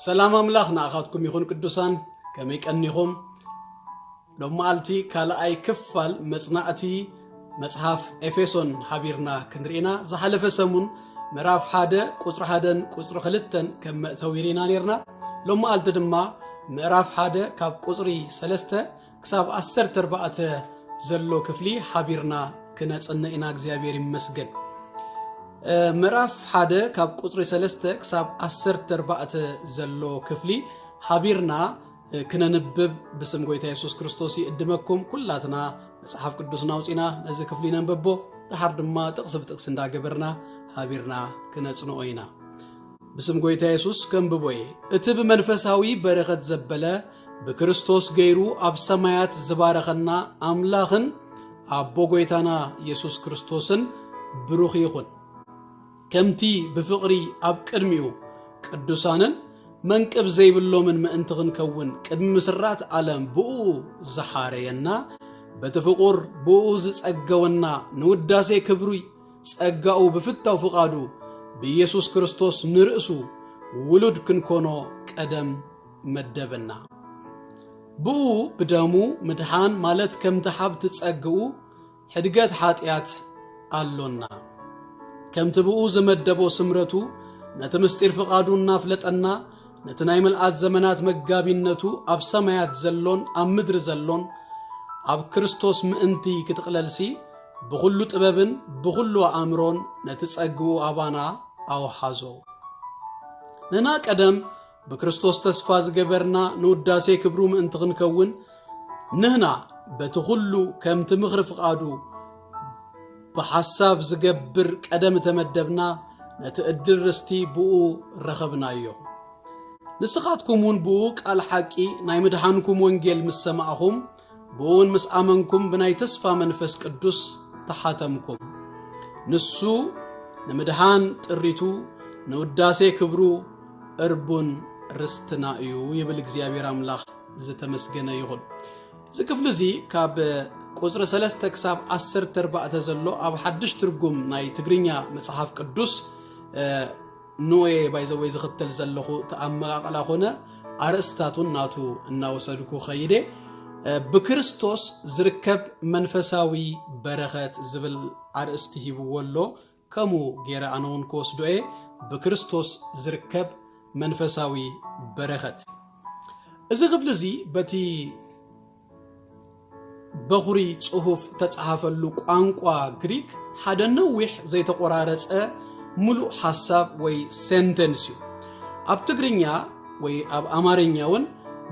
ሰላም ኣምላኽ ንኣኻትኩም ይኹን ቅዱሳን ከመይ ቀኒኹም ሎማዓልቲ ካልኣይ ክፋል መጽናዕቲ መጽሓፍ ኤፌሶን ሓቢርና ክንርኢና ዝሓለፈ ሰሙን ምዕራፍ ሓደ ቁፅሪ ሓደን ቁፅሪ ክልተን ከም መእተዊ ርኢና ነርና ሎማዓልቲ ድማ ምዕራፍ ሓደ ካብ ቁፅሪ ሰለስተ ክሳብ ዓሰርተ ኣርባዕተ ዘሎ ክፍሊ ሓቢርና ክነጽነ ኢና እግዚኣብሔር ይመስገን ምዕራፍ ሓደ ካብ ቁፅሪ ሰለስተ ክሳብ ዓሰርተ ኣርባዕተ ዘሎ ክፍሊ ሓቢርና ክነንብብ ብስም ጎይታ የሱስ ክርስቶስ ይእድመኩም ኩላትና መጽሓፍ ቅዱስና ኣውፂና ነዚ ክፍሊ ነንበቦ ድሓር ድማ ጥቕሲ ብጥቕሲ እንዳገበርና ሃቢርና ክነጽንኦ ኢና ብስም ጎይታ የሱስ ከንብቦ እየ እቲ ብመንፈሳዊ በረኸት ዘበለ ብክርስቶስ ገይሩ ኣብ ሰማያት ዝባረኸና ኣምላኽን ኣቦ ጎይታና የሱስ ክርስቶስን ብሩኽ ይኹን ከምቲ ብፍቕሪ ኣብ ቅድሚኡ ቅዱሳንን መንቅብ ዘይብሎምን ምእንቲ ክንከውን ቅድሚ ምስራት ዓለም ብኡ ዝሓረየና በቲ ፍቑር ብኡ ዝጸገወና ንውዳሴ ክብሪ ጸጋኡ ብፍታው ፍቓዱ ብኢየሱስ ክርስቶስ ንርእሱ ውሉድ ክንኮኖ ቀደም መደበና። ብኡ ብደሙ ምድሓን ማለት ከምቲ ሓብቲ ጸግኡ ሕድገት ሓጢኣት ኣሎና ከምቲ ብኡ ዝመደቦ ስምረቱ ነቲ ምስጢር ፍቓዱ እናፍለጠና ነቲ ናይ ምልኣት ዘመናት መጋቢነቱ ኣብ ሰማያት ዘሎን ኣብ ምድሪ ዘሎን ኣብ ክርስቶስ ምእንቲ ክትቕለልሲ ብዅሉ ጥበብን ብዅሉ ኣእምሮን ነቲ ጸግኡ ኣባና ኣውሓዞ ንና ቀደም ብክርስቶስ ተስፋ ዝገበርና ንውዳሴ ክብሩ ምእንቲ ክንከውን ንህና በቲ ኩሉ ከምቲ ምኽሪ ፍቓዱ ብሓሳብ ዝገብር ቀደም ተመደብና ነቲ እድል ርስቲ ብኡ ረኸብናዮ ንስኻትኩም እውን ብኡ ቃል ሓቂ ናይ ምድሓንኩም ወንጌል ምስ ሰማእኹም ብኡውን ምስ ኣመንኩም ብናይ ተስፋ መንፈስ ቅዱስ ተሓተምኩም ንሱ ንምድሓን ጥሪቱ ንውዳሴ ክብሩ እርቡን ርስትና እዩ ይብል እግዚኣብሔር ኣምላኽ ዝተመስገነ ይኹን እዚ ክፍሊ እዚ ካብ ቁፅሪ 3 ክሳብ 14 ዘሎ ኣብ ሓድሽ ትርጉም ናይ ትግርኛ መጽሓፍ ቅዱስ ኖየ ባይዘወይ ዝኽተል ዘለኹ ተኣመቃቅላ ኮነ ኣርእስታቱን ናቱ እናወሰድኩ ኸይደ ብክርስቶስ ዝርከብ መንፈሳዊ በረኸት ዝብል ኣርእስቲ ሂብዎ ኣሎ ከምኡ ገይረ ኣነ እውን ክወስዶ እየ ብክርስቶስ ዝርከብ መንፈሳዊ በረኸት እዚ ክፍሊ እዚ በቲ በዅሪ ጽሑፍ እተጻሕፈሉ ቋንቋ ግሪክ ሓደ ነዊሕ ዘይተቖራረጸ ምሉእ ሓሳብ ወይ ሴንተንስ እዩ። ኣብ ትግርኛ ወይ ኣብ ኣማርኛ እውን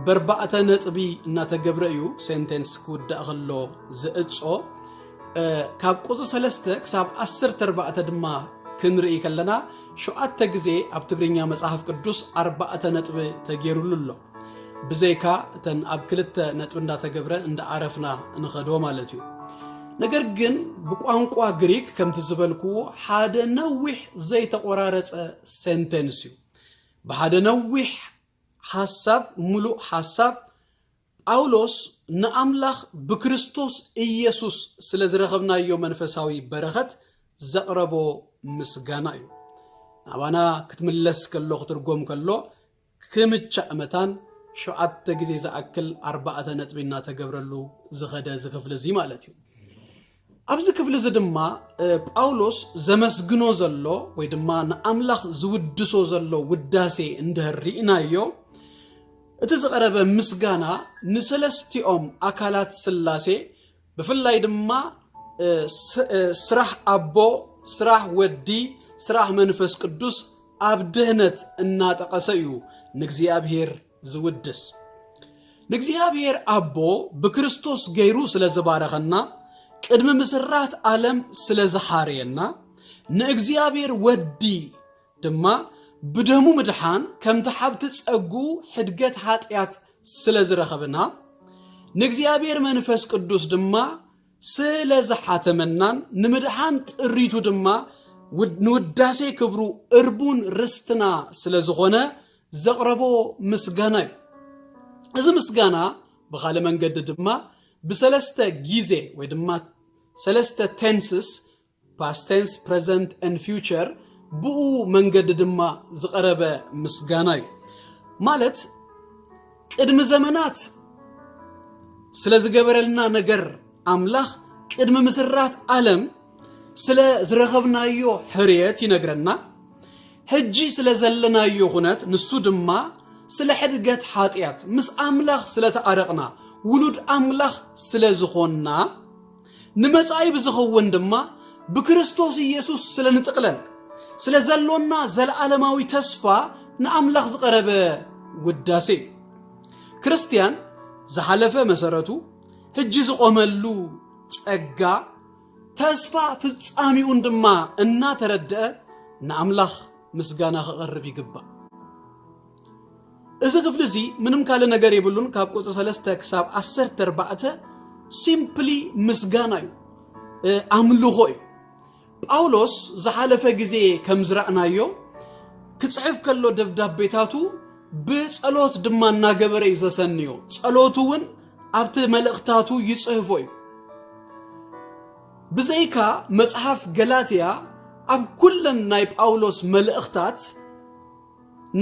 በርባዕተ ነጥቢ እናተገብረ እዩ ሴንተንስ ክውዳእ ከሎ ዝእጾ። ካብ ቁጽሪ ሰለስተ ክሳብ ዓሰርተ ኣርባዕተ ድማ ክንርኢ ከለና ሸውዓተ ግዜ ኣብ ትግርኛ መጽሓፍ ቅዱስ ኣርባዕተ ነጥቢ ተገይሩሉ ኣሎ። ብዘይካ እተን ኣብ ክልተ ነጥቢ እንዳተገብረ እንዳኣረፍና ንኸዶ ማለት እዩ ነገር ግን ብቋንቋ ግሪክ ከምቲ ዝበልክዎ ሓደ ነዊሕ ዘይተቆራረፀ ሴንቴንስ እዩ ብሓደ ነዊሕ ሓሳብ ሙሉእ ሓሳብ ጳውሎስ ንኣምላኽ ብክርስቶስ ኢየሱስ ስለ ዝረኸብናዮ መንፈሳዊ በረኸት ዘቕረቦ ምስጋና እዩ ናባና ክትምለስ ከሎ ክትርጎም ከሎ ክምቻእ መታን ሸውዓተ ግዜ ዝኣክል ኣርባዕተ ነጥቢ እናተገብረሉ ዝኸደ እዚ ክፍሊ እዚ ማለት እዩ። ኣብዚ ክፍሊ እዚ ድማ ጳውሎስ ዘመስግኖ ዘሎ ወይ ድማ ንኣምላኽ ዝውድሶ ዘሎ ውዳሴ እንድህር ርኢናዮ እቲ ዝቐረበ ምስጋና ንሰለስቲኦም ኣካላት ስላሴ ብፍላይ ድማ ስራሕ ኣቦ፣ ስራሕ ወዲ፣ ስራሕ መንፈስ ቅዱስ ኣብ ድህነት እናጠቐሰ እዩ ንእግዚኣብሔር ዝውድስ። ንእግዚኣብሔር ኣቦ ብክርስቶስ ገይሩ ስለ ዝባረኸና፣ ቅድሚ ምስራት ዓለም ስለ ዝሓረየና፣ ንእግዚኣብሔር ወዲ ድማ ብደሙ ምድሓን ከምቲ ሓብቲ ጸግኡ ሕድገት ኃጢኣት ስለ ዝረኸብና ንእግዚኣብሔር መንፈስ ቅዱስ ድማ ስለ ዝሓተመናን ንምድሓን ጥሪቱ ድማ ንውዳሴ ክብሩ እርቡን ርስትና ስለ ዝኾነ ዘቕረቦ ምስጋና እዩ እዚ ምስጋና ብኻልእ መንገዲ ድማ ብሰለስተ ጊዜ ወይ ድማ ሰለስተ ቴንስስ ፓስት ቴንስ፣ ፕረዘንት ን ፊውቸር ብኡ መንገዲ ድማ ዝቐረበ ምስጋና እዩ። ማለት ቅድሚ ዘመናት ስለ ዝገበረልና ነገር ኣምላኽ ቅድሚ ምስራት ዓለም ስለ ዝረኸብናዮ ሕርየት ይነግረና። ሕጂ ስለ ዘለናዮ ኩነት ንሱ ድማ ስለ ሕድገት ሓጢኣት ምስ ኣምላኽ ስለ ተኣረቕና ውሉድ ኣምላኽ ስለ ዝኾንና ንመጻኢ ብዝኸውን ድማ ብክርስቶስ ኢየሱስ ስለ ንጥቕለል ስለ ዘሎና ዘለዓለማዊ ተስፋ ንኣምላኽ ዝቐረበ ውዳሴ እዩ። ክርስትያን ዝሓለፈ መሰረቱ ህጂ ዝቆመሉ ጸጋ ተስፋ ፍጻሚኡን ድማ እናተረድአ ንኣምላኽ ምስጋና ከቐርብ ይግባእ። እዚ ክፍሊ እዚ ምንም ካልእ ነገር የብሉን ካብ ቁፅሪ ሰለስተ ክሳብ ዓሰርተ ኣርባዕተ ሲምፕሊ ምስጋና እዩ ኣምልኾ እዩ ጳውሎስ ዝሓለፈ ግዜ ከም ዝረእናዮ ክጽሕፍ ከሎ ደብዳቤታቱ ብጸሎት ድማ እናገበረ እዩ ዘሰንዮ ጸሎቱ እውን ኣብቲ መልእኽታቱ ይጽህፎ እዩ ብዘይካ መጽሓፍ ገላትያ ኣብ ኩለን ናይ ጳውሎስ መልእኽታት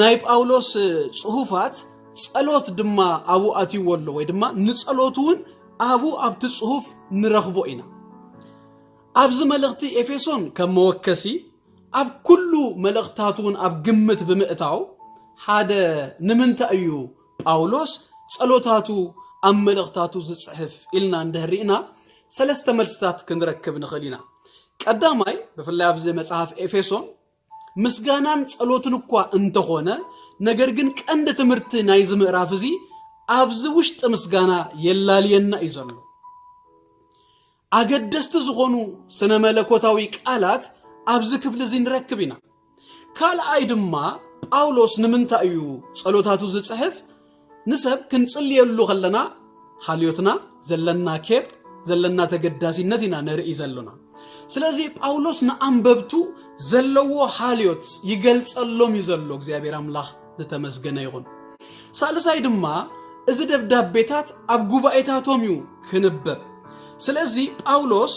ናይ ጳውሎስ ጽሑፋት ጸሎት ድማ ኣብኡ ኣትይዎ ኣሎ ወይ ድማ ንጸሎት እውን ኣብኡ ኣብቲ ጽሑፍ ንረኽቦ ኢና ኣብዚ መልእኽቲ ኤፌሶን ከም መወከሲ ኣብ ኩሉ መልእኽታቱ እውን ኣብ ግምት ብምእታው ሓደ ንምንታይ እዩ ጳውሎስ ጸሎታቱ ኣብ መልእኽታቱ ዝጽሕፍ ኢልና እንድህሪእና ሰለስተ መልስታት ክንረክብ ንኽእል ኢና ቀዳማይ ብፍላይ ኣብዚ መጽሐፍ ኤፌሶን ምስጋናን ጸሎትን እኳ እንተኾነ ነገር ግን ቀንዲ ትምህርቲ ናይዚ ምዕራፍ እዚ ኣብዚ ውሽጢ ምስጋና የላልየና እዩ ዘሎ ኣገደስቲ ዝኾኑ ስነ መለኮታዊ ቃላት ኣብዚ ክፍሊ እዚ ንረክብ ኢና ካልኣይ ድማ ጳውሎስ ንምንታይ እዩ ጸሎታቱ ዝጽሕፍ ንሰብ ክንጽልየሉ ከለና ሃልዮትና ዘለና ኬር ዘለና ተገዳሲነት ኢና ነርኢ ዘሎና ስለዚ ጳውሎስ ንኣንበብቱ ዘለዎ ሃልዮት ይገልጸሎም እዩ ዘሎ እግዚኣብሔር ኣምላኽ ዝተመስገነ ይኹን ሳልሳይ ድማ እዚ ደብዳቤታት ኣብ ጉባኤታቶም እዩ ክንበብ ስለዚ ጳውሎስ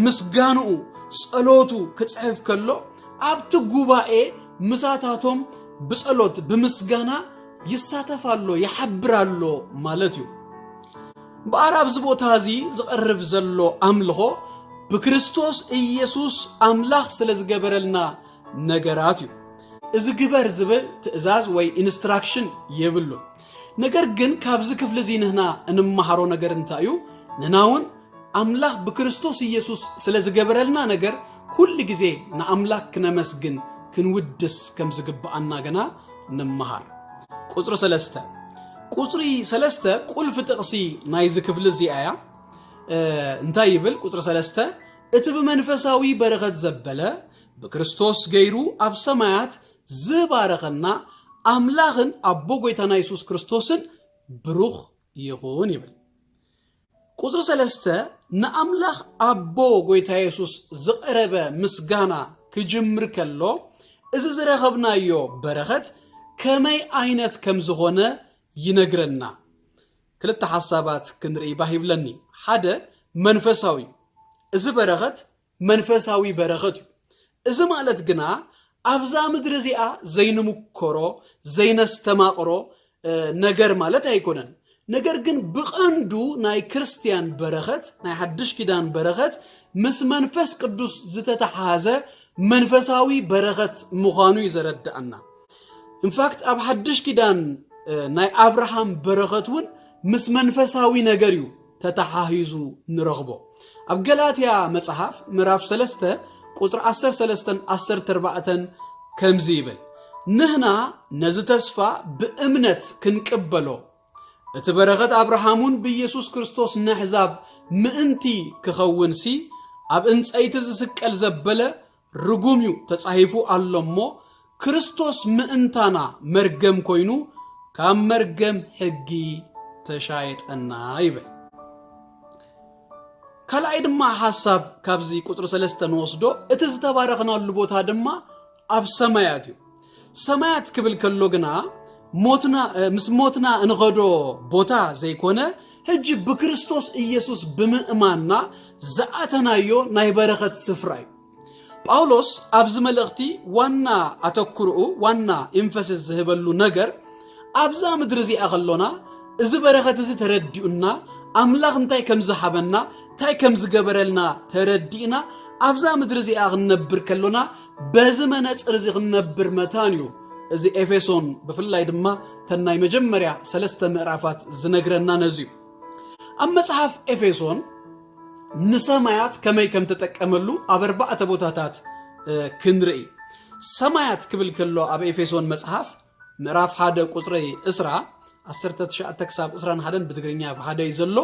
ምስጋንኡ ጸሎቱ ክጽሕፍ ከሎ ኣብቲ ጉባኤ ምሳታቶም ብጸሎት ብምስጋና ይሳተፍ ኣሎ ይሓብር ኣሎ ማለት እዩ እምበኣር ኣብዚ ቦታ እዚ ዝቐርብ ዘሎ ኣምልኾ ብክርስቶስ ኢየሱስ ኣምላኽ ስለ ዝገበረልና ነገራት እዩ እዚ ግበር ዝብል ትእዛዝ ወይ ኢንስትራክሽን የብሉን ነገር ግን ካብዚ ክፍሊ እዚ ንህና እንመሃሮ ነገር እንታይ እዩ? ንህና እውን ኣምላኽ ብክርስቶስ ኢየሱስ ስለ ዝገበረልና ነገር ኩሉ ግዜ ንኣምላኽ ክነመስግን ክንውድስ ከም ዝግብኣና ገና ንመሃር። ቁፅሪ ሰለስተ ቁፅሪ ሰለስተ ቁልፊ ጥቕሲ ናይዚ ክፍሊ እዚኣ እያ እንታይ ይብል ቁፅሪ ሰለስተ እቲ ብመንፈሳዊ በረኸት ዘበለ ብክርስቶስ ገይሩ ኣብ ሰማያት ዝባረኸና ኣምላኽን ኣቦ ጎይታና የሱስ ክርስቶስን ብሩኽ ይኹን ይብል። ቁጽሪ ሰለስተ ንኣምላኽ ኣቦ ጎይታ የሱስ ዝቐረበ ምስጋና ክጅምር ከሎ እዚ ዝረኸብናዮ በረኸት ከመይ ዓይነት ከም ዝኾነ ይነግረና። ክልተ ሓሳባት ክንርኢ ባህ ይብለኒ። ሓደ መንፈሳዊ እዩ። እዚ በረኸት መንፈሳዊ በረኸት እዩ። እዚ ማለት ግና ኣብዛ ምድሪ እዚኣ ዘይንምኮሮ ዘይነስተማቕሮ ነገር ማለት ኣይኮነን። ነገር ግን ብቐንዱ ናይ ክርስትያን በረኸት ናይ ሓድሽ ኪዳን በረኸት ምስ መንፈስ ቅዱስ ዝተተሓሓዘ መንፈሳዊ በረኸት ምዃኑ እዩ ዘረድኣና ኢንፋክት ኣብ ሓድሽ ኪዳን ናይ ኣብርሃም በረኸት እውን ምስ መንፈሳዊ ነገር እዩ ተተሓሂዙ ንረኽቦ። ኣብ ገላትያ መጽሓፍ ምዕራፍ ሰለስተ ቁጽሪ ዓሰርተ ሰለስተን ዓሰርተ ኣርባዕተን ከምዚ ይብል፣ ንህና ነዚ ተስፋ ብእምነት ክንቅበሎ፣ እቲ በረኸት ኣብርሃምውን ብኢየሱስ ክርስቶስ ነሕዛብ ምእንቲ ክኸውንሲ፣ ኣብ እንጸይቲ ዝስቀል ዘበለ ርጉም እዩ ተጻሂፉ ኣሎ እሞ ክርስቶስ ምእንታና መርገም ኮይኑ ካብ መርገም ሕጊ ተሻየጠና ይብል። ካልኣይ ድማ ሓሳብ ካብዚ ቁፅሪ ሰለስተ ንወስዶ እቲ ዝተባረኽናሉ ቦታ ድማ ኣብ ሰማያት እዩ። ሰማያት ክብል ከሎ ግና ሞትና ምስ ሞትና እንኸዶ ቦታ ዘይኮነ ሕጂ ብክርስቶስ ኢየሱስ ብምእማንና ዝኣተናዮ ናይ በረኸት ስፍራ እዩ ጳውሎስ ኣብዚ መልእኽቲ ዋና ኣተኩርኡ ዋና ኢንፈስስ ዝህበሉ ነገር ኣብዛ ምድሪ እዚኣ ከሎና እዚ በረኸት እዚ ተረዲኡና ኣምላኽ እንታይ ከም ዝሃበና እንታይ ከም ዝገበረልና ተረዲእና ኣብዛ ምድሪ እዚኣ ክንነብር ከሎና በዚ መነፅር እዚ ክንነብር መታን እዩ እዚ ኤፌሶን ብፍላይ ድማ ተን ናይ መጀመርያ ሰለስተ ምዕራፋት ዝነግረና ነዚ እዩ ኣብ መፅሓፍ ኤፌሶን ንሰማያት ከመይ ከም ተጠቀመሉ ኣብ ኣርባዕተ ቦታታት ክንርኢ ሰማያት ክብል ከሎ ኣብ ኤፌሶን መፅሓፍ ምዕራፍ ሓደ ቁፅሪ እስራ 19 ክሳብ 21 ብትግርኛ ብሓደ እዩ ዘሎ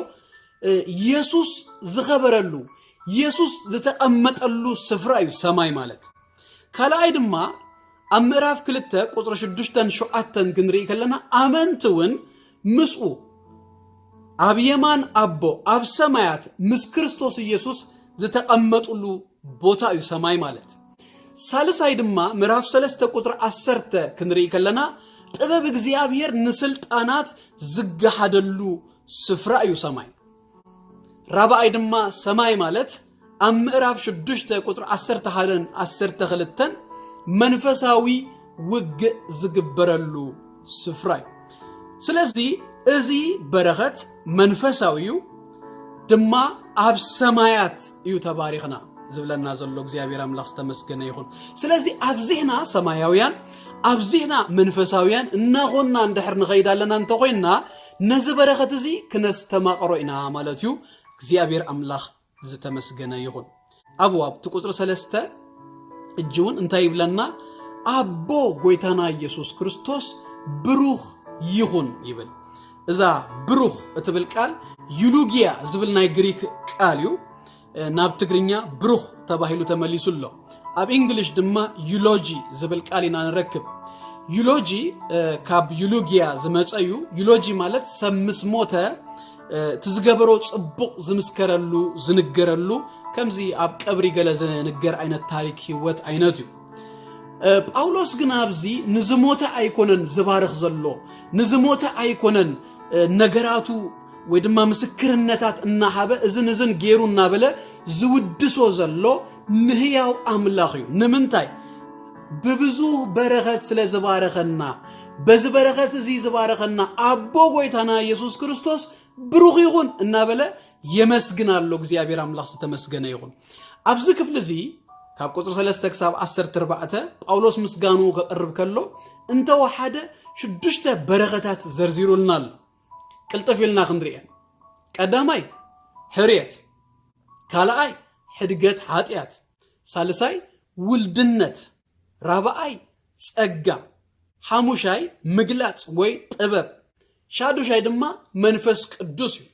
ኢየሱስ ዝኸበረሉ ኢየሱስ ዝተቐመጠሉ ስፍራ እዩ ሰማይ ማለት ካልኣይ ድማ ኣብ ምዕራፍ ክልተ ቁፅሪ ሽዱሽተን ሸውዓተን ክንርኢ ከለና ኣመንቲ እውን ምስኡ ኣብ የማን ኣቦ ኣብ ሰማያት ምስ ክርስቶስ ኢየሱስ ዝተቐመጡሉ ቦታ እዩ ሰማይ ማለት ሳልሳይ ድማ ምዕራፍ ሰለስተ ቁፅሪ ዓሰርተ ክንርኢ ከለና ጥበብ እግዚኣብሔር ንስልጣናት ዝገሃደሉ ስፍራ እዩ ሰማይ ራብኣይ ድማ ሰማይ ማለት ኣብ ምዕራፍ 6 ቁፅሪ 11ን 12ን መንፈሳዊ ውግእ ዝግበረሉ ስፍራ እዩ ስለዚ እዚ በረኸት መንፈሳዊ እዩ ድማ ኣብ ሰማያት እዩ ተባሪኽና ዝብለና ዘሎ እግዚኣብሔር ኣምላኽ ዝተመስገነ ይኹን ስለዚ ኣብዚህና ሰማያውያን ኣብዚህና መንፈሳውያን እናኾንና እንድሕር ንኸይድ ኣለና እንተኾይንና ነዚ በረኸት እዚ ክነስተማቕሮ ኢና ማለት እዩ። እግዚኣብሔር ኣምላኽ ዝተመስገነ ይኹን። ኣብኡ ኣብቲ ቁፅሪ ሰለስተ እጅ እውን እንታይ ይብለና? ኣቦ ጎይታና ኢየሱስ ክርስቶስ ብሩኽ ይኹን ይብል። እዛ ብሩኽ እትብል ቃል ዩሉጊያ ዝብል ናይ ግሪክ ቃል እዩ። ናብ ትግርኛ ብሩኽ ተባሂሉ ተመሊሱ ኣሎ ኣብ ኢንግሊሽ ድማ ዩሎጂ ዝብል ቃል ኢና ንረክብ ዩሎጂ ካብ ዩሉግያ ዝመፀ እዩ ዩሎጂ ማለት ሰብ ምስ ሞተ እቲ ዝገበሮ ፅቡቕ ዝምስከረሉ ዝንገረሉ ከምዚ ኣብ ቀብሪ ገለ ዝንገር ዓይነት ታሪክ ህይወት ዓይነት እዩ ጳውሎስ ግን ኣብዚ ንዝሞተ ኣይኮነን ዝባርኽ ዘሎ ንዝሞተ ኣይኮነን ነገራቱ ወይ ድማ ምስክርነታት እናሃበ እዝን እዝን ገይሩ እናበለ ዝውድሶ ዘሎ ንህያው ኣምላኽ እዩ ንምንታይ ብብዙ በረኸት ስለ ዝባረኸና በዚ በረኸት እዚ ዝባረኸና ኣቦ ጎይታና ኢየሱስ ክርስቶስ ብሩኽ ይኹን እናበለ የመስግን ኣሎ እግዚኣብሔር ኣምላኽ ዝተመስገነ ይኹን ኣብዚ ክፍሊ እዚ ካብ ቁፅሪ 3 ክሳብ 14 ጳውሎስ ምስጋኑ ከቕርብ ከሎ እንተወሓደ ሽዱሽተ በረኸታት ዘርዚሩልና ኣሎ ቅልጥፍ ኢልና ክንርኤን ቀዳማይ ሕርየት ካልኣይ ሕድገት ሓጢኣት ሳልሳይ ውልድነት ራብኣይ ጸጋ ሓሙሻይ ምግላጽ ወይ ጥበብ ሻዱሻይ ድማ መንፈስ ቅዱስ እዩ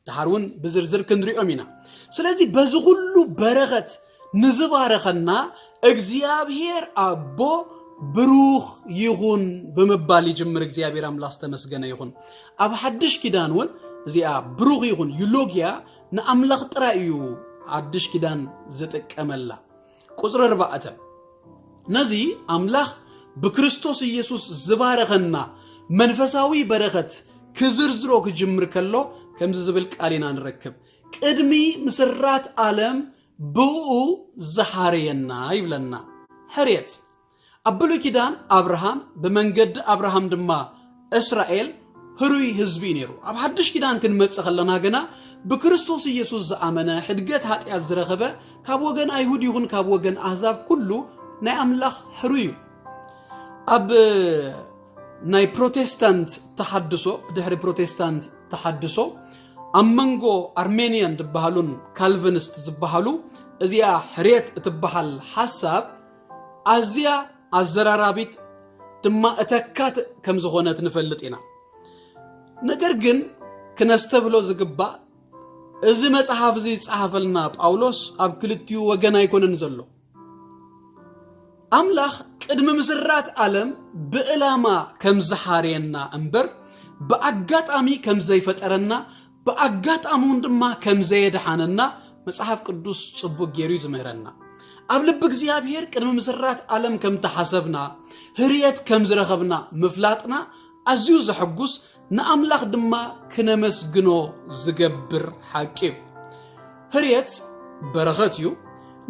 ድሓር እውን ብዝርዝር ክንሪኦም ኢና ስለዚ በዚ ኩሉ በረኸት ንዝባረኸና እግዚኣብሔር ኣቦ ብሩኽ ይኹን ብምባል ይጅምር እግዚኣብሔር ኣምላኽ ዝተመስገነ ይኹን ኣብ ሓድሽ ኪዳን እውን እዚኣ ብሩኽ ይኹን ዩሎግያ ንኣምላኽ ጥራይ እዩ ሓድሽ ኪዳን ዝጥቀመላ ቁፅሪ ኣርባዕተ ነዚ ኣምላኽ ብክርስቶስ ኢየሱስ ዝባረኸና መንፈሳዊ በረኸት ክዝርዝሮ ክጅምር ከሎ ከምዚ ዝብል ቃል ኢና ንረክብ ቅድሚ ምስራት ዓለም ብኡ ዝሓርየና ይብለና ሕርየት ኣብ ብሉይ ኪዳን ኣብርሃም ብመንገዲ ኣብርሃም ድማ እስራኤል ህሩይ ህዝቢ እዩ ነይሩ ኣብ ሓድሽ ኪዳን ክንመፅእ ከለና ግና ብክርስቶስ ኢየሱስ ዝኣመነ ሕድገት ሃጢኣት ዝረኸበ ካብ ወገን ኣይሁድ ይኹን ካብ ወገን ኣህዛብ ኩሉ ናይ ኣምላኽ ሕሩይ እዩ ኣብ ናይ ፕሮቴስታንት ተሓድሶ ብድሕሪ ፕሮቴስታንት ተሓድሶ ኣብ መንጎ ኣርሜንያን ዝበሃሉን ካልቪንስት ዝበሃሉ እዚኣ ሕርየት እትበሃል ሓሳብ ኣዝያ ኣዘራራቢት ድማ እተካት ከም ዝኾነት ንፈልጥ ኢና ነገር ግን ክነስተብህሎ ዝግባእ እዚ መጽሓፍ እዚ ዝጸሓፈልና ጳውሎስ ኣብ ክልቲኡ ወገን ኣይኮነን ዘሎ ኣምላኽ ቅድሚ ምስራት ዓለም ብዕላማ ከም ዝሓርየና እምበር ብኣጋጣሚ ከም ዘይፈጠረና ብኣጋጣሚውን ድማ ከም ዘየድሓነና መጽሓፍ ቅዱስ ጽቡቅ ገይሩ እዩ ዝምህረና። ኣብ ልቢ እግዚኣብሔር ቅድሚ ምስራት ዓለም ከም ተሓሰብና ህርየት ከም ዝረኸብና ምፍላጥና ኣዝዩ ዘሐጉስ ንኣምላኽ ድማ ክነመስግኖ ዝገብር ሓቂ እዩ። ህርየት በረኸት እዩ፣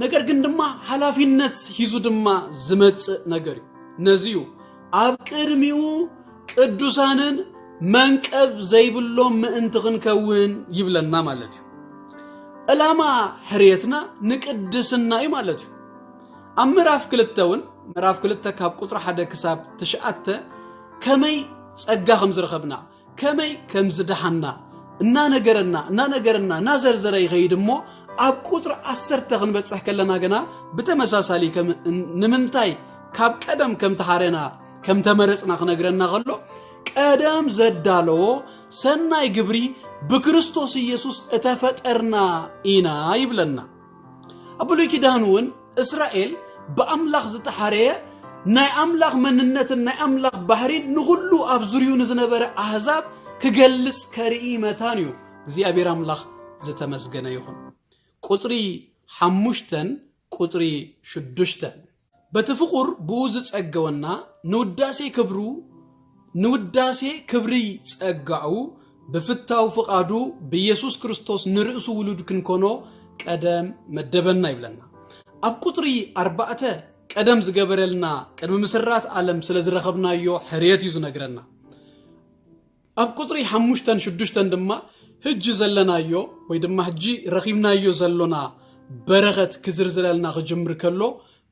ነገር ግን ድማ ሓላፊነት ሂዙ ድማ ዝመጽእ ነገር እዩ። ነዚ እዩ ኣብ ቅድሚኡ ቅዱሳንን መንቀብ ዘይብሎም ምእንቲ ክንከውን ይብለና ማለት እዩ ዕላማ ሕርየትና ንቅድስና እዩ ማለት እዩ ኣብ ምዕራፍ ክልተ እውን ምዕራፍ ክልተ ካብ ቁፅሪ ሓደ ክሳብ ትሽዓተ ከመይ ጸጋ ከም ዝረኸብና ከመይ ከም ዝደሓና እናነገረና እናነገረና እናዘርዘረ ይኸይድ እሞ ኣብ ቁፅሪ ዓሰርተ ክንበፅሕ ከለና ግና ብተመሳሳሊ ንምንታይ ካብ ቀደም ከም ተሓረና ከም ተመረፅና ክነግረና ከሎ ቀደም ዘዳለዎ ሰናይ ግብሪ ብክርስቶስ ኢየሱስ እተፈጠርና ኢና ይብለና ኣብ ብሉይ ኪዳን እውን እስራኤል ብኣምላኽ ዝተሓረየ ናይ ኣምላኽ መንነትን ናይ ኣምላኽ ባህሪን ንኹሉ ኣብ ዙርዩ ንዝነበረ ኣህዛብ ክገልጽ ከርኢ መታን እዩ እግዚኣብሔር ኣምላኽ ዝተመስገነ ይኹን ቁፅሪ ሓሙሽተን ቁፅሪ ሽዱሽተን በቲ ፍቁር ብኡ ዝጸገወና ንውዳሴ ክብሩ ንውዳሴ ክብሪ ጸጋኡ ብፍታው ፍቓዱ ብየሱስ ክርስቶስ ንርእሱ ውሉድ ክንኮኖ ቀደም መደበና ይብለና። ኣብ ቁጽሪ ኣርባዕተ ቀደም ዝገበረልና ቅድሚ ምስራት ኣለም ስለ ዝረኸብናዮ ሕርየት እዩ ዝነግረና። ኣብ ቁጽሪ ሓሙሽተን ሽዱሽተን ድማ ህጂ ዘለናዮ ወይ ድማ ህጂ ረኺብናዮ ዘሎና በረኸት ክዝርዝረልና ክጅምር ከሎ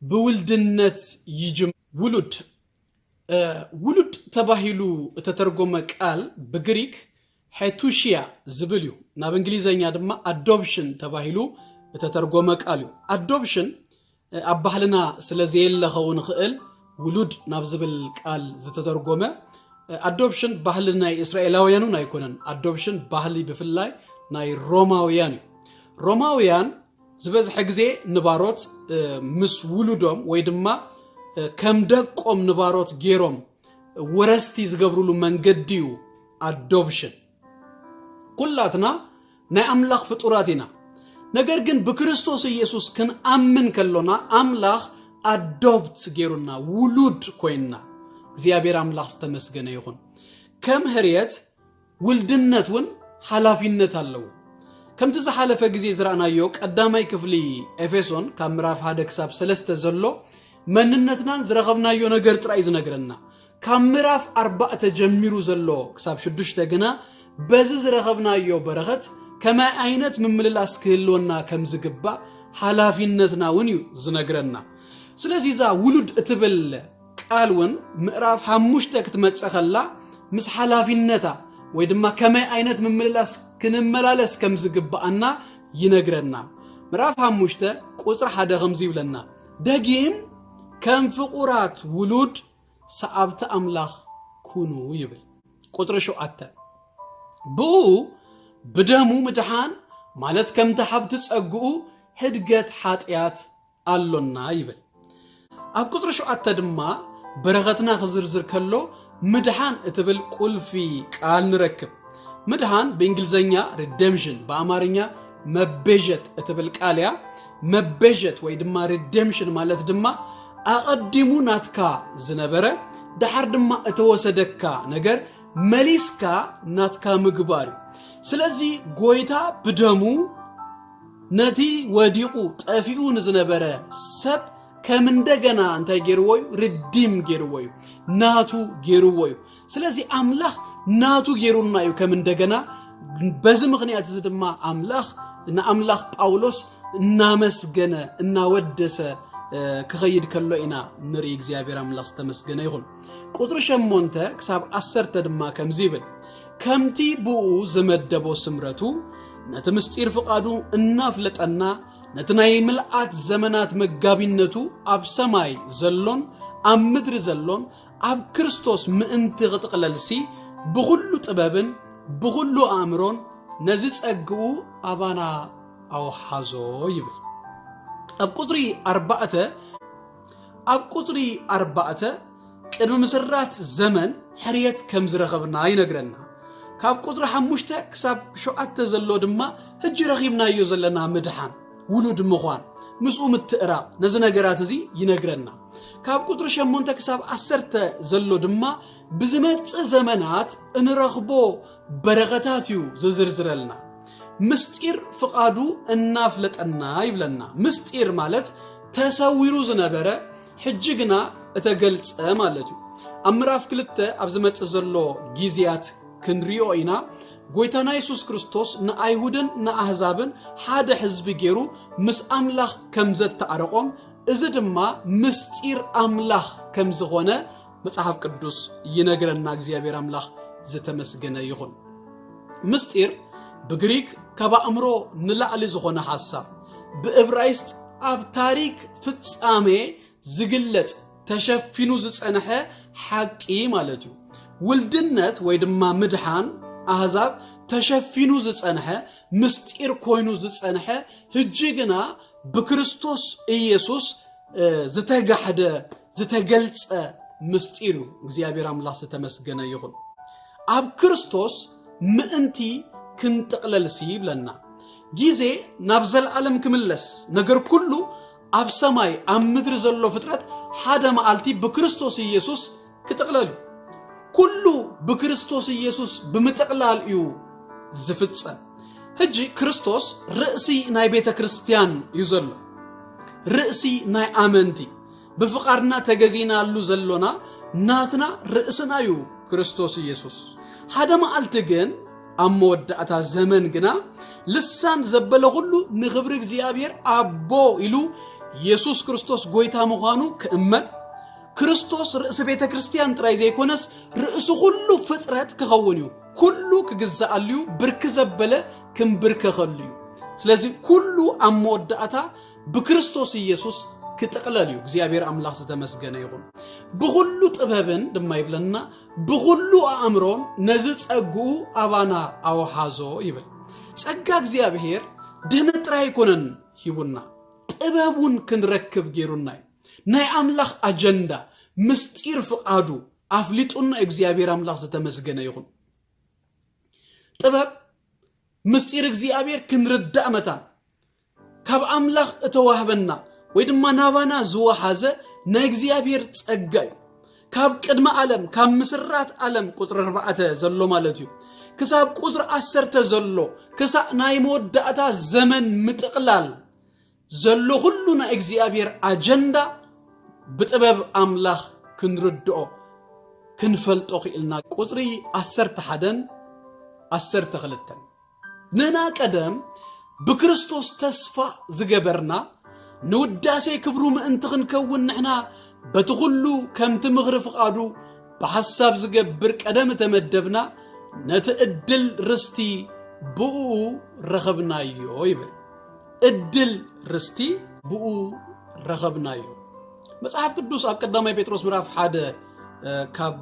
ብውልድነት ይጅም ውሉድ ውሉድ ተባሂሉ እተተርጎመ ቃል ብግሪክ ሐቱሽያ ዝብል እዩ ናብ እንግሊዘኛ ድማ ኣዶፕሽን ተባሂሉ እተተርጎመ ቃል እዩ ኣዶፕሽን ኣብ ባህልና ስለዘየለ ከውን ይኽእል ውሉድ ናብ ዝብል ቃል ዝተተርጎመ ኣዶፕሽን ባህሊ ናይ እስራኤላውያን እውን ኣይኮነን ኣዶፕሽን ባህሊ ብፍላይ ናይ ሮማውያን እዩ ሮማውያን ዝበዝሐ ግዜ ንባሮት ምስ ውሉዶም ወይ ድማ ከም ደቆም ንባሮት ገይሮም ወረስቲ ዝገብርሉ መንገዲ እዩ ኣዶፕሽን ኩላትና ናይ ኣምላኽ ፍጡራት ኢና። ነገር ግን ብክርስቶስ ኢየሱስ ክንኣምን ከሎና ኣምላኽ ኣዶብት ጌሩና ውሉድ ኮይንና። እግዚኣብሔር ኣምላኽ ዝተመስገነ ይኹን። ከም ህርየት ውልድነት እውን ሓላፊነት ኣለዎ። ከምቲ ዝሓለፈ ግዜ ዝረኣናዮ ቀዳማይ ክፍሊ ኤፌሶን ካብ ምዕራፍ ሓደ ክሳብ ሰለስተ ዘሎ መንነትናን ዝረኸብናዮ ነገር ጥራይ ዝነግረና ካብ ምራፍ ኣርባእተ ጀሚሩ ዘሎ ክሳብ ሽዱሽተ ግና በዚ ዝረኸብናዮ በረኸት ከማይ ኣይነት ምምልላስ ክህልወና ከም ዝግባእ ሓላፊነትና ውን እዩ ዝነግረና። ስለዚ እዛ ውሉድ እትብል ቃል ውን ምእራፍ ሓሙሽተ ክትመጽእ ከላ ምስ ሓላፊነታ ወይ ድማ ከመይ ኣይነት ምምልላስ ክንመላለስ ከም ዝግባኣና ይነግረና። ምእራፍ ሓሙሽተ ቁጽሪ ሓደ ከምዚ ይብለና ደጊም ከም ፍቁራት ውሉድ ሰዓብቲ ኣምላኽ ኩኑ ይብል። ቁጽሪ ሸውዓተ ብእኡ ብደሙ ምድሓን ማለት ከምቲ ሓብቲ ጸግኡ ህድገት ሓጢኣት ኣሎና ይብል። ኣብ ቁጽሪ ሸውዓተ ድማ በረኸትና ክዝርዝር ከሎ ምድሓን እትብል ቁልፊ ቃል ንረክብ። ምድሓን ብእንግሊዝኛ ሪደምሽን ብኣማርኛ መቤዠት እትብል ቃል እያ። መበዠት ወይ ድማ ሪደምሽን ማለት ድማ ኣቐዲሙ ናትካ ዝነበረ ድሓር ድማ እተወሰደካ ነገር መሊስካ ናትካ ምግባር እዩ ስለዚ ጎይታ ብደሙ ነቲ ወዲቑ ጠፊኡ ንዝነበረ ሰብ ከም እንደገና እንታይ ገይርዎ እዩ ርዲም ገይርዎ እዩ ናቱ ገይርዎ እዩ ስለዚ ኣምላኽ ናቱ ጌሩና እዩ ከም እንደገና በዚ ምኽንያት እዚ ድማ ኣምላኽ ንኣምላኽ ጳውሎስ እናመስገነ እናወደሰ ክኸይድ ከሎ ኢና ንርኢ እግዚኣብሔር ኣምላኽ ዝተመስገነ ይኹን ቁጥሪ ሸሞንተ ክሳብ ዓሰርተ ድማ ከምዚ ይብል ከምቲ ብኡ ዝመደቦ ስምረቱ ነቲ ምስጢር ፍቓዱ እናፍለጠና ነቲ ናይ ምልኣት ዘመናት መጋቢነቱ ኣብ ሰማይ ዘሎን ኣብ ምድሪ ዘሎን ኣብ ክርስቶስ ምእንቲ ክጥቕለልሲ ብኹሉ ጥበብን ብኹሉ ኣእምሮን ነዚ ጸግኡ ኣባና ኣውሓዞ ይብል ኣብ ቁፅሪ ኣርባዕተ ኣብ ቁፅሪ ኣርባዕተ ቅድሚ ምስራት ዘመን ሕርየት ከም ዝረኸብና ይነግረና ካብ ቁፅሪ ሓሙሽተ ክሳብ ሸውዓተ ዘሎ ድማ ህጂ ረኺብናዮ ዘለና ምድሓን ውሉድ ምዃን ምስኡ ምትእራቕ ነዚ ነገራት እዚ ይነግረና ካብ ቁጥሪ ሸሞንተ ክሳብ ዓሰርተ ዘሎ ድማ ብዝመፅእ ዘመናት እንረኽቦ በረኸታት እዩ ዝዝርዝረልና ምስጢር ፍቓዱ እናፍለጠና ይብለና ምስጢር ማለት ተሰዊሩ ዝነበረ ሕጂ ግና እተገልፀ ማለት እዩ ኣብ ምዕራፍ ክልተ ኣብ ዝመፅእ ዘሎ ግዜያት ክንሪኦ ኢና ጎይታና የሱስ ክርስቶስ ንኣይሁድን ንኣህዛብን ሓደ ሕዝቢ ገይሩ ምስ ኣምላኽ ከም ዘተኣረቖም እዚ ድማ ምስጢር ኣምላኽ ከም ዝኾነ መጽሓፍ ቅዱስ ይነግረና። እግዚኣብሔር ኣምላኽ ዝተመስገነ ይኹን። ምስጢር ብግሪክ ካብ ኣእምሮ ንላዕሊ ዝኾነ ሓሳብ ብእብራይስጥ ኣብ ታሪክ ፍጻሜ ዝግለጽ ተሸፊኑ ዝጸንሐ ሓቂ ማለት እዩ ውልድነት ወይ ድማ ምድሓን ኣህዛብ ተሸፊኑ ዝጸንሐ ምስጢር ኮይኑ ዝጸንሐ ህጂ ግና ብክርስቶስ ኢየሱስ ዝተጋሕደ ዝተገልጸ ምስጢር እዩ እግዚኣብሔር ኣምላኽ ዝተመስገነ ይኹን ኣብ ክርስቶስ ምእንቲ ክንጥቕለልሲ ይብለና ጊዜ ናብ ዘለዓለም ክምለስ ነገር ኩሉ ኣብ ሰማይ ኣብ ምድሪ ዘሎ ፍጥረት ሓደ መዓልቲ ብክርስቶስ ኢየሱስ ክጥቕለል እዩ ኩሉ ብክርስቶስ ኢየሱስ ብምጥቕላል እዩ ዝፍጸም ሕጂ ክርስቶስ ርእሲ ናይ ቤተ ክርስቲያን እዩ ዘሎ ርእሲ ናይ ኣመንቲ ብፍቓድና ተገዚናሉ ዘሎና ናትና ርእስና እዩ ክርስቶስ ኢየሱስ ሓደ መዓልቲ ግን ኣብ መወዳእታ ዘመን ግና ልሳን ዘበለ ኹሉ ንኽብሪ እግዚኣብሔር ኣቦ ኢሉ ኢየሱስ ክርስቶስ ጎይታ ምዃኑ ክእመን ክርስቶስ ርእሲ ቤተ ክርስቲያን ጥራይ ዘይኮነስ ርእሲ ኩሉ ፍጥረት ክኸውን እዩ ኩሉ ክግዛኣሉ እዩ ብርክ ዘበለ ክንብርከኸሉ እዩ ስለዚ ኩሉ ኣብ መወዳእታ ብክርስቶስ ኢየሱስ ክጥቕለል እዩ እግዚኣብሔር ኣምላኽ ዝተመስገነ ይኹን ብኹሉ ጥበብን ድማ ይብለና ብኹሉ ኣእምሮን ነዚ ጸግኡ ኣባና ኣውሓዞ ይብል። ጸጋ እግዚኣብሔር ድህነት ጥራይ ኣይኮነን ሂቡና፣ ጥበብ እውን ክንረክብ ገይሩና እዩ። ናይ ኣምላኽ ኣጀንዳ ምስጢር ፍቓዱ ኣፍሊጡና እዩ። እግዚኣብሔር ኣምላኽ ዝተመስገነ ይኹን። ጥበብ ምስጢር እግዚኣብሔር ክንርዳእ መታን ካብ ኣምላኽ እተዋህበና ወይ ድማ ናባና ዝወሓዘ ናይ እግዚኣብሔር ጸጋ እዩ ካብ ቅድሚ ኣለም ካብ ምስራት ኣለም ቁፅሪ ኣርባዕተ ዘሎ ማለት እዩ ክሳብ ቁፅሪ ዓሰርተ ዘሎ ክሳእ ናይ መወዳእታ ዘመን ምጥቕላል ዘሎ ኩሉ ናይ እግዚኣብሔር ኣጀንዳ ብጥበብ ኣምላኽ ክንርድኦ ክንፈልጦ ክኢልና ቁፅሪ ዓሰርተ ሓደን ዓሰርተ ክልተን ንህና ቀደም ብክርስቶስ ተስፋ ዝገበርና ንውዳሴ ክብሩ ምእንቲ ክንከውን ንሕና በቲ ኩሉ ከምቲ ምኽሪ ፍቓዱ ብሓሳብ ዝገብር ቀደም እተመደብና ነቲ እድል ርስቲ ብእኡ ረኸብናዮ ይብል እድል ርስቲ ብኡ ረኸብናዮ መጽሓፍ ቅዱስ ኣብ ቀዳማይ ጴጥሮስ ምዕራፍ ሓደ ካብ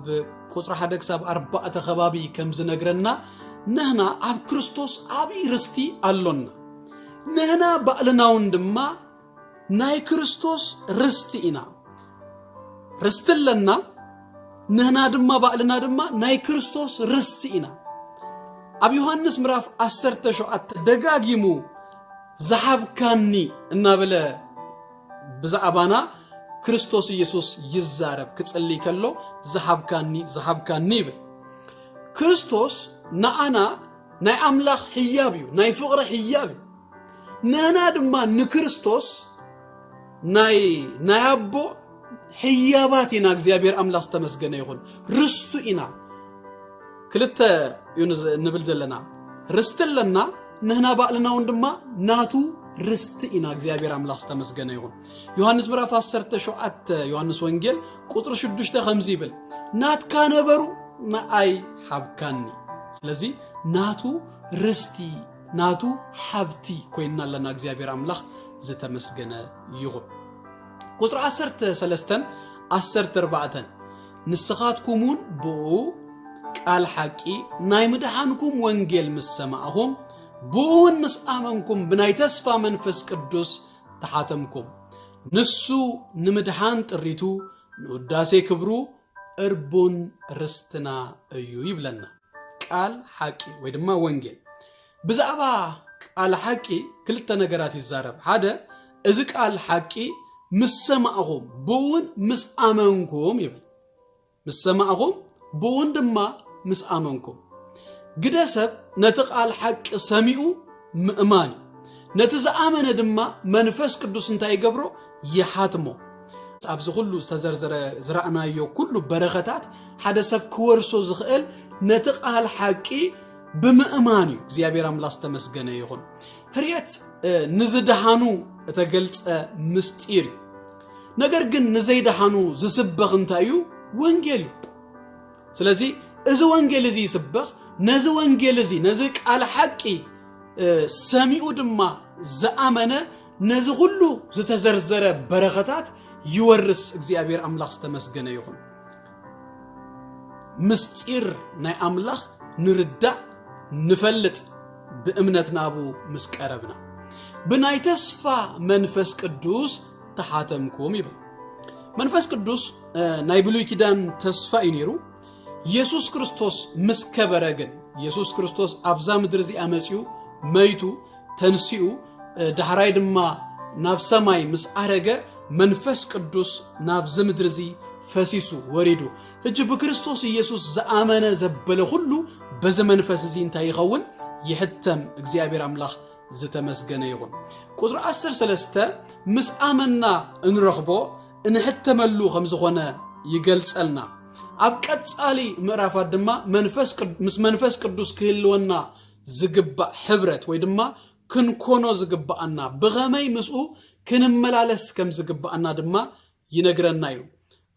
ቁፅሪ ሓደ ክሳብ ኣርባዕተ ከባቢ ከም ዝነግረና ንህና ኣብ ክርስቶስ ዓብዪ ርስቲ ኣሎና ንህና ባዕልና እውን ድማ ናይ ክርስቶስ ርስቲ ኢና ርስቲ ኣለና ንህና ድማ ባዕልና ድማ ናይ ክርስቶስ ርስቲ ኢና ኣብ ዮሃንስ ምዕራፍ 17 ደጋጊሙ ዝሃብካኒ እናበለ ብዛዕባና ክርስቶስ ኢየሱስ ይዛረብ ክጽልይ ከሎ ዝሃብካኒ ዝሃብካኒ ይብል ክርስቶስ ንኣና ናይ ኣምላኽ ህያብ እዩ ናይ ፍቕሪ ህያብ እዩ ንህና ድማ ንክርስቶስ ናይ ናይ ኣቦ ህያባት ኢና እግዚኣብሔር ኣምላኽ ዝተመስገነ ይኹን ርስቱ ኢና ክልተ እዩ ንብል ዘለና ርስቲ ኣለና ንህና ባእልና እውን ድማ ናቱ ርስቲ ኢና እግዚኣብሔር ኣምላኽ ዝተመስገነ ይኹን ዮሃንስ ምዕራፍ 17 ዮሃንስ ወንጌል ቁጥሪ 6 ከምዚ ይብል ናትካ ነበሩ ንኣይ ሓብካኒ ስለዚ ናቱ ርስቲ ናቱ ሓብቲ ኮይና ኣለና እግዚኣብሔር ኣምላኽ ዝተመስገነ ይኹን ቁጽሪ ዓሰርተ ሰለስተን ዓሰርተ ኣርባዕተን ንስኻትኩምውን ብኡ ቃል ሓቂ ናይ ምድሓንኩም ወንጌል ምስ ሰማዕኹም ብኡውን ምስ ኣመንኩም ብናይ ተስፋ መንፈስ ቅዱስ ተሓተምኩም ንሱ ንምድሓን ጥሪቱ ንውዳሴ ክብሩ እርቡን ርስትና እዩ ይብለና ቃል ሓቂ ወይ ድማ ወንጌል። ብዛዕባ ቃል ሓቂ ክልተ ነገራት ይዛረብ። ሓደ እዚ ቃል ሓቂ ምስ ሰማዕኹም ብእውን ምስ ኣመንኩም ይብል። ምስ ሰማዕኹም ብእውን ድማ ምስ ኣመንኩም ግደ ሰብ ነቲ ቃል ሓቂ ሰሚኡ ምእማን እዩ ነቲ ዝኣመነ ድማ መንፈስ ቅዱስ እንታይ ይገብሮ ይሓትሞ ኣብዚ ኩሉ ዝተዘርዘረ ዝረእናዮ ኩሉ በረኸታት ሓደ ሰብ ክወርሶ ዝኽእል ነቲ ቃል ሓቂ ብምእማን እዩ እግዚኣብሔር ኣምላክ ዝተመስገነ ይኹን ህርየት ንዝደሃኑ እተገልጸ ምስጢር እዩ ነገር ግን ንዘይደሃኑ ዝስበኽ እንታይ እዩ ወንጌል እዩ ስለዚ እዚ ወንጌል እዚ ይስበኽ ነዚ ወንጌል እዚ ነዚ ቃል ሓቂ ሰሚኡ ድማ ዝኣመነ ነዚ ኩሉ ዝተዘርዘረ በረኸታት ይወርስ እግዚኣብሔር ኣምላኽ ዝተመስገነ ይኹን ምስጢር ናይ ኣምላኽ ንርዳእ ንፈልጥ ብእምነት ናቡ ምስ ቀረብና ብናይ ተስፋ መንፈስ ቅዱስ ተሓተምኩም ይብል መንፈስ ቅዱስ ናይ ብሉይ ኪዳን ተስፋ እዩ ነይሩ የሱስ ክርስቶስ ምስ ከበረ ግን የሱስ ክርስቶስ ኣብዛ ምድሪ እዚኣ መፅኡ መይቱ ተንስኡ ዳሕራይ ድማ ናብ ሰማይ ምስ ዓረገ መንፈስ ቅዱስ ናብዚ ምድሪ እዚ ፈሲሱ ወሪዱ ሕጂ ብክርስቶስ ኢየሱስ ዝኣመነ ዘበለ ኩሉ በዚ መንፈስ እዚ እንታይ ይኸውን ይሕተም እግዚኣብሔር ኣምላኽ ዝተመስገነ ይኹን ቁፅሪ ዓሰርተ ሰለስተ ምስ ኣመና እንረኽቦ እንሕተመሉ ከም ዝኾነ ይገልጸልና ኣብ ቀጻሊ ምዕራፋት ድማ ምስ መንፈስ ቅዱስ ክህልወና ዝግባእ ሕብረት ወይ ድማ ክንኮኖ ዝግባኣና ብኸመይ ምስኡ ክንመላለስ ከም ዝግባኣና ድማ ይነግረና እዩ።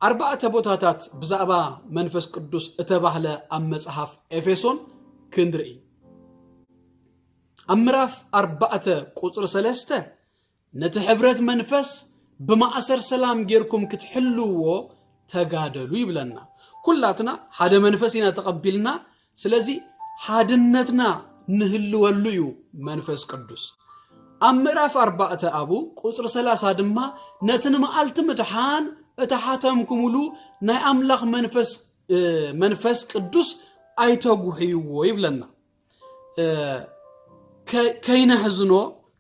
ኣርባዕተ ቦታታት ብዛዕባ መንፈስ ቅዱስ እተባህለ ኣብ መጽሓፍ ኤፌሶን ክንርኢ ኣብ ምዕራፍ ኣርባዕተ ቁፅሪ ሰለስተ ነቲ ሕብረት መንፈስ ብማእሰር ሰላም ጌርኩም ክትሕልዎ ተጋደሉ ይብለና። ኩላትና ሓደ መንፈስ ኢና ተቐቢልና ስለዚ ሓድነትና ንህልወሉ እዩ መንፈስ ቅዱስ ኣብ ምዕራፍ ኣርባዕተ ኣብኡ ቁፅሪ ሰላሳ ድማ ነቲ ንመዓልቲ ምድሓን እተሓተምኩምሉ ናይ ኣምላኽ መንፈስ እ፣ መንፈስ ቅዱስ ኣይተጉሕይዎ ይብለና እ፣ ከ- ከይነሕዝኖ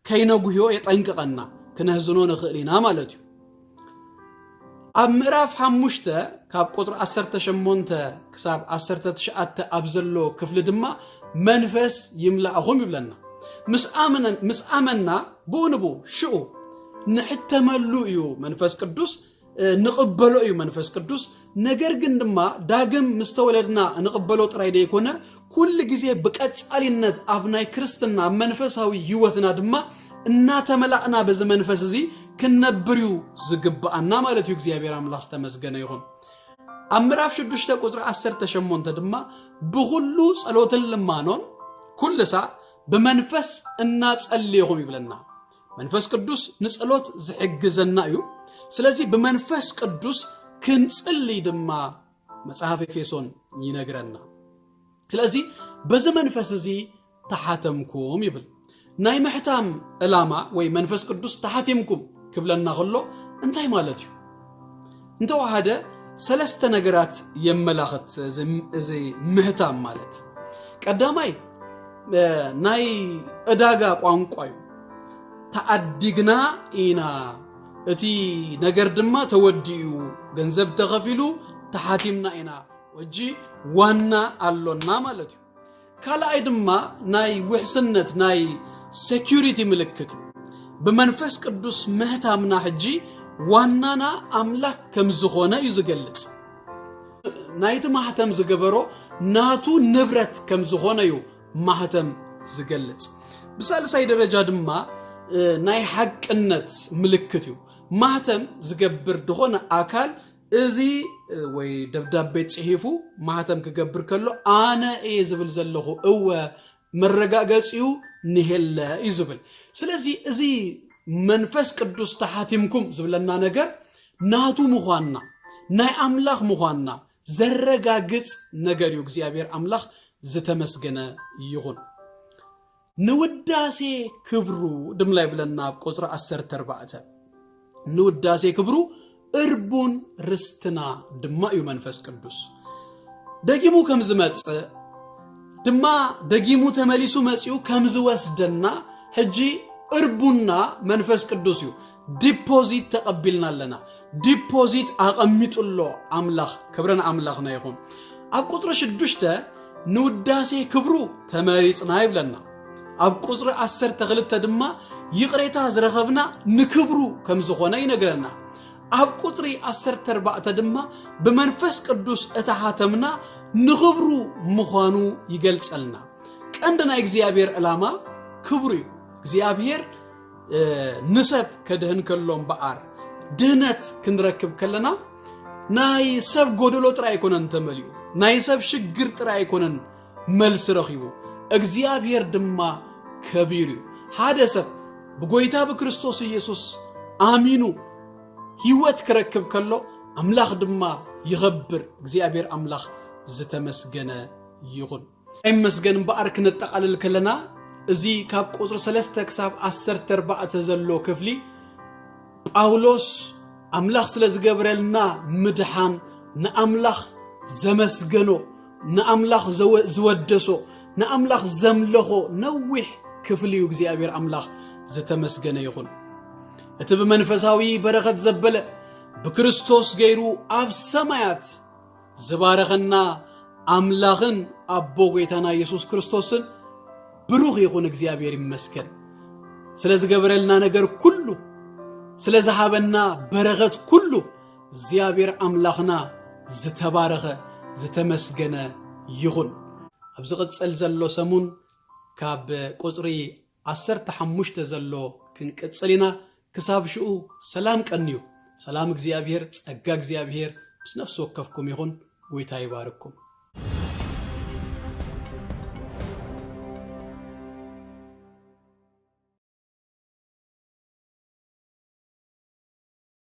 ከይነጉህዮ የጠንቅቐና ክነህዝኖ ንኽእል ኢና ማለት እዩ ኣብ ምዕራፍ ሓሙሽተ ካብ ቁጥሪ 18 ክሳብ 19 ኣብ ዘሎ ክፍሊ ድማ መንፈስ ይምላእኹም ይብለና ምስ ኣመና ብኡ ንብኡ ሽኡ ንሕተመሉ እዩ መንፈስ ቅዱስ ንቕበሎ እዩ መንፈስ ቅዱስ ነገር ግን ድማ ዳግም ምስ ተወለድና ንቕበሎ ጥራይ ደይኮነ ኩሉ ግዜ ብቀጻሊነት ኣብ ናይ ክርስትና ኣብ መንፈሳዊ ህይወትና ድማ እናተመላእና በዚ መንፈስ እዚ ክንነብር እዩ ዝግብኣና ማለት እዩ እግዚኣብሔር ኣምላኽ ዝተመስገነ ይኹን ኣብ ምዕራፍ 6 ቁፅሪ 18 ድማ ብኩሉ ጸሎትን ልማኖን ኩልሳ ብመንፈስ እናጸልየኹም ይብለና መንፈስ ቅዱስ ንጸሎት ዝሕግዘና እዩ። ስለዚ ብመንፈስ ቅዱስ ክንጽልይ ድማ መጽሐፍ ኤፌሶን ይነግረና። ስለዚ በዚ መንፈስ እዚ ተሓተምኩም ይብል። ናይ ምሕታም ዕላማ ወይ መንፈስ ቅዱስ ተሓቲምኩም ክብለና ከሎ እንታይ ማለት እዩ? እንተወሃደ ሰለስተ ነገራት የመላኽት እዚ ምህታም ማለት ቀዳማይ ናይ ዕዳጋ ቋንቋ እዩ ተዓዲግና ኢና እቲ ነገር ድማ ተወዲኡ ገንዘብ ተኸፊሉ ተሓቲምና ኢና ሕጂ ዋና ኣሎና ማለት እዩ ካልኣይ ድማ ናይ ውሕስነት ናይ ሴኪሪቲ ምልክት እዩ ብመንፈስ ቅዱስ ምህታምና ሕጂ ዋናና ኣምላክ ከም ዝኾነ እዩ ዝገልጽ ናይቲ ማህተም ዝገበሮ ናቱ ንብረት ከም ዝኾነ እዩ ማህተም ዝገልጽ ብሳልሳይ ደረጃ ድማ ናይ ሓቅነት ምልክት እዩ ማህተም ዝገብር ዝኾነ ኣካል እዚ ወይ ደብዳቤ ጽሒፉ ማህተም ክገብር ከሎ ኣነ እየ ዝብል ዘለኹ እወ መረጋገጺኡ ንሄለ እዩ ዝብል ስለዚ እዚ መንፈስ ቅዱስ ተሓቲምኩም ዝብለና ነገር ናቱ ምዃንና ናይ ኣምላኽ ምዃንና ዘረጋግጽ ነገር እዩ እግዚኣብሔር ኣምላኽ ዝተመስገነ ይኹን ንውዳሴ ክብሩ ድማ ይብለና ኣብ ቁፅሪ ዓሰርተ ኣርባዕተ ንውዳሴ ክብሩ እርቡን ርስትና ድማ እዩ መንፈስ ቅዱስ ደጊሙ ከም ዝመፅእ ድማ ደጊሙ ተመሊሱ መፂኡ ከም ዝወስደና ሕጂ እርቡና መንፈስ ቅዱስ እዩ ዲፖዚት ተቐቢልና ኣለና ዲፖዚት ኣቐሚጡሎ ኣምላኽ ክብሪ ንኣምላኽና ይኹን ኣብ ቁፅሪ ሽዱሽተ ንውዳሴ ክብሩ ተመሪፅና ይብለና ኣብ ቁፅሪ ዓሰርተ ክልተ ድማ ይቕሬታ ዝረኸብና ንክብሩ ከም ዝኾነ ይነግረና ኣብ ቁፅሪ ዓሰርተ ኣርባዕተ ድማ ብመንፈስ ቅዱስ እተሓተምና ንኽብሩ ምዃኑ ይገልጸልና ቀንዲ ናይ እግዚኣብሔር ዕላማ ክብሩ እዩ እግዚኣብሔር ንሰብ ከድህን ከሎ እምበኣር ድህነት ክንረክብ ከለና ናይ ሰብ ጎደሎ ጥራይ ኣይኮነን ተመሊኡ ናይ ሰብ ሽግር ጥራይ ኣይኮነን መልሲ ረኺቡ እግዚኣብሔር ድማ ከቢር እዩ ሓደ ሰብ ብጎይታ ብክርስቶስ ኢየሱስ ኣሚኑ ህይወት ክረክብ ከሎ ኣምላኽ ድማ ይኸብር እግዚኣብሔር ኣምላኽ ዝተመስገነ ይኹን ይመስገን እምበኣር ክነጠቓልል ከለና እዚ ካብ ቁፅሪ ሰለስተ ክሳብ ዓሰርተ ኣርባዕተ ዘሎ ክፍሊ ጳውሎስ ኣምላኽ ስለ ዝገብረልና ምድሓን ንኣምላኽ ዘመስገኖ ንኣምላኽ ዝወደሶ ንኣምላኽ ዘምለኾ ነዊሕ ክፍሊ እዩ እግዚኣብሔር ኣምላኽ ዝተመስገነ ይኹን እቲ ብመንፈሳዊ በረኸት ዘበለ ብክርስቶስ ገይሩ ኣብ ሰማያት ዝባረኸና ኣምላኽን ኣቦ ጎይታና ኢየሱስ ክርስቶስን ብሩኽ ይኹን እግዚኣብሔር ይመስገን ስለ ዝገበረልና ነገር ኩሉ ስለ ዝሃበና በረኸት ኩሉ እግዚኣብሔር ኣምላኽና ዝተባረኸ ዝተመስገነ ይኹን ኣብ ዝቕፅል ዘሎ ሰሙን ካብ ቁፅሪ ዓሰርተ ሓሙሽተ ዘሎ ክንቅጽል ኢና ክሳብ ሽኡ ሰላም ቀንዩ ሰላም እግዚኣብሄር ጸጋ እግዚኣብሄር ምስ ነፍሲ ወከፍኩም ይኹን ጎይታ ይባርኩም።